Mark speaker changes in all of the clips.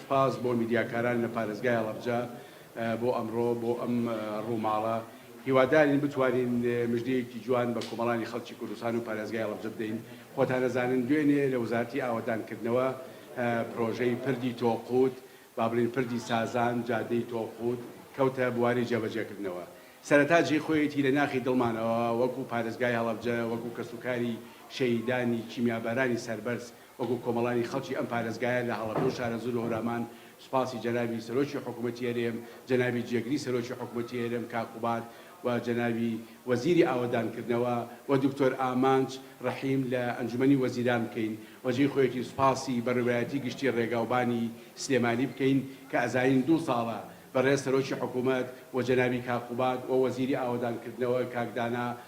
Speaker 1: سپاس بۆ میدیاکاران لە پارێزگای هەڵەبجە بۆ ئەمڕۆ بۆ ئەم ڕووماڵە. هیوادارین بتوانین مژدەیەکی جوان بە کۆمەڵانی خەڵکی کوردستان و پارێزگای هەڵەبجە بدەین. خۆتان ئەزانن دوێنێ لە وەزارەتی ئاوەدانکردنەوە پرۆژەی پردی تۆقووت، با بڵێین پردی سازان، جادەی تۆقووت، کەوتە بواری جێبەجێکردنەوە. سەرەتا جێی خۆیەتی لە ناخی دڵمانەوە وەکوو پارێزگای هەڵەبجە، وەکوو کەسوکاری شەهیدانی کیمیابارانی سەربەرز، وەکو کۆمەڵانی خەڵکی ئەم پارێزگایە لە هەڵەبجە و شارەزوور و هەورامان سوپاسی جەنابی سەرۆکی حکوومەتی هەرێم، جەنابی جێگری سەرۆکی حکوومەتی هەرێم کاک قوباد و جەنابی وەزیری ئاوەدانکردنەوە و دکتۆر ئامانج ڕەحیم لە ئەنجومەنی وەزیران بکەین و جێی خۆیەتی سوپاسی بەڕێوەبەرایەتی گشتی ڕێگاوبانی سلێمانی بکەین کە ئەزانین دوو ساڵە بەڕێز سەرۆکی حکوومەت و جەنابی کاک قوباد و وەزیری ئاوەدانکردنەوە کاک دانا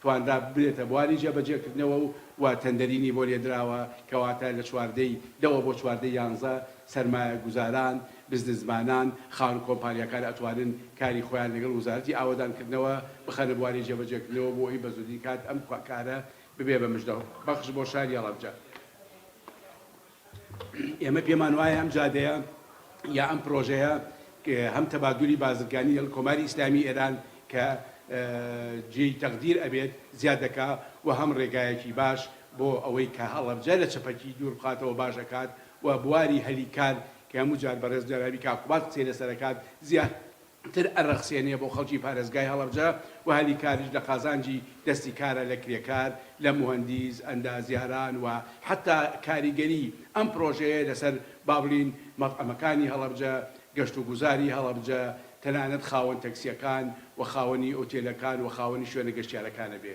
Speaker 1: توانرا ببرێتە بواری جێبەجێکردنەوە و وا تەندەریی بۆ لێدراوە، کەواتە لە چواردەی دەوە بۆ چواردەی یانزە، سەرمایەگوزاران، بزنسمانان، خاوەن کۆمپانیاکان ئەتوانن کاری خۆیان لەگەڵ وزارەتی ئاوەدانکردنەوە بخەنە بواری جێبەجێکردنەوە بۆ ئەوی بەزووترین کات ئەم کارە ببێ بە مژدە بەخش بۆ شاری هەڵەبجە. ئێمە پێمان وایە ئەم جادەیە یا ئەم پرۆژەیە هەم تەبادولی بازرگانی لەگەڵ کۆماری ئیسلامی ئێران کە جێی تەقدیر ئەبێت زیاد دەکا و هەم ڕێگایەکی باش بۆ ئەوەی کە هەڵەبجە لە چەپەکی دوور بخاتەوە باش ئەکات و بواری هەلی کار کە هەموو جار بەڕێز جەنابی کاک قوباد قسەی لەسەر ئەکات زیاد تر ئەرەخسێنێ بۆ خەڵکی پارێزگای هەڵەبجە و هەلی کاریش لە قازانجی دەستی کارە لە کرێکار، لە موهەندیس، ئەندازیاران و حەتا کاریگەری ئەم پرۆژەیە لەسەر با بڵین مەتعەمەکانی هەڵەبجە، گەشت و گوزاری هەڵەبجە، تەنانەت خاوەن تەکسیەکان و خاوەنی ئوتێلەکان و خاوەنی شوێنە گەشتیارەکانە بێ.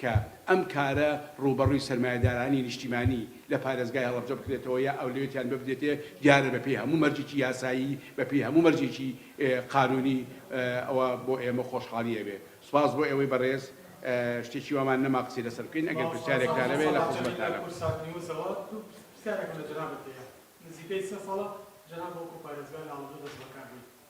Speaker 1: کە ئەم کارە ڕووبەڕووی سەرمایەدارانی نیشتیمانی لە پارێزگای هەڵەبجە بکرێتەوە یا ئەولەوێتیان ببدرێتێ دیارە بە پێی هەموو مەرجێکی یاسایی بە پێی هەموو مەرجێکی قانونی ئەوە بۆ ئێمە خۆشحاڵی ئەبێ سوپاس بۆ ئێوەی بەڕێز شتێکی وامان نەما قسەی لەسەر بکەین ئەگەر پرسیارێکتان هەبێ لە خزمەتتانم. پرسیارێکم لە جەنابت هەیە نزیکەی سێ ساڵە جەناب وەکو پارێزگار لە هەڵەبجە
Speaker 2: دەست بەکار بوویت،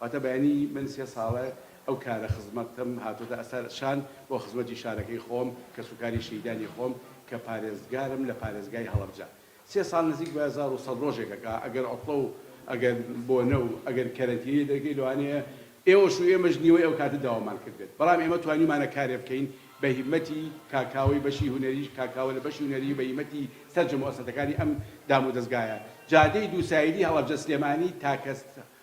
Speaker 1: واتە بەیانی من سێ ساڵە ئەو کارە خزمەتەم هاتۆتە ئەسەر شان بۆ خزمەتی شارەکەی خۆم، کەسوکاری شەهیدانی خۆم کە پارێزگارم لە پارێزگای هەڵەبجە. سێ ساڵ نزیک بە هەزار و سەد ڕۆژێک ئەکا، ئەگەر عوتڵە و ئەگەر بۆنە و ئەگەر کەرەنتینەی دەرکەی لەوانەیە ئێوەش و ئێمەش نیوەی ئەو کاتە داوامان کردبێت، بەڵام ئێمە توانیومانە کارێ بکەین بە هیمەتی کاکاوەی بەشی هونەریی کاکاوە لە بەشی هونەریی بە هیمەتی سەرجەم موئەسەتەکانی ئەم دامودەزگایە جادەی دوو سایدی هەڵەبجە سلێمانی تاکە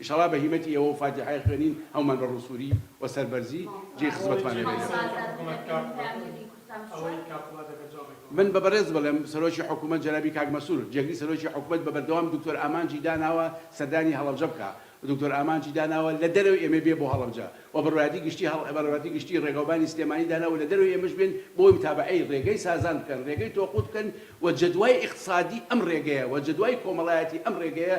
Speaker 1: ئیشەڵا بە هیمەتی ئێوە و فاتیحای خوێنین هەموومان بە ڕووسووری و سەربەرزی جێی خزمەتمان دەبێت. من بە بەڕێز بڵێم سەرۆکی حکوومەت جەنابی کاک مەسرور جێگری سەرۆکی حکوومەت بە بەردەوام دوکتۆر ئامانجی داناوە سەردانی هەڵەبجە بکا و دوکتۆر ئامانجی داناوە لە دەرەوەی ئێمە بێ بۆ هەڵەبجە و بڕوایەتی گشتی بڕوایەتی گشتی ڕێگاوبانی سلێمانی داناوە لە دەرەوەی ئێمەش بێن بۆی متابەعەی ڕێگەی سازان بکەن ڕێگەی تۆقووت بکەن و جەدوای ئیقتسادی ئەم ڕێگەیە و جەدوای کۆمەڵایەتی ئەم ڕێگەیە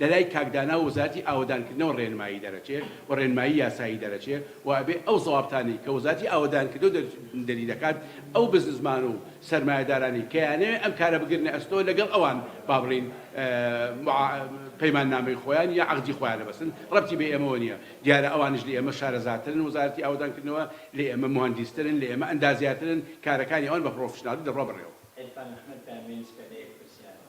Speaker 1: لەلای کاک دانا و وەزارەتی ئاوەدانکردنەوە ڕێنمایی دەرەچێ و ڕێنمایی یاسایی دەرەچێ و ئەبێ ئەو زەوابتانەی کە وەزارەتی ئاوەدانکردنەوە دەری دەکات ئەو بزنسمان و سەرمایەدارانەی کە یانەوێ ئەم کارە بگرنە ئەستۆ لەگەڵ ئەوان با بڵێین پەیماننامەی خۆیان یا عەقدی خۆیانە بەسن ڕەبتی بە ئێمەوە نیە دیارە ئەوانیش لە ئێمە شارەزاترن وەزارەتی ئاوەدانکردنەوە لە ئێمە موهەندیسترن لە ئێمە ئەندازیارترن کارەکانی ئەوان بە پڕۆفیشناڵی دەڕوا بەڕێوە. عیرفان ئەحمەد دامێنسکە لە یەک پرسیارەوە.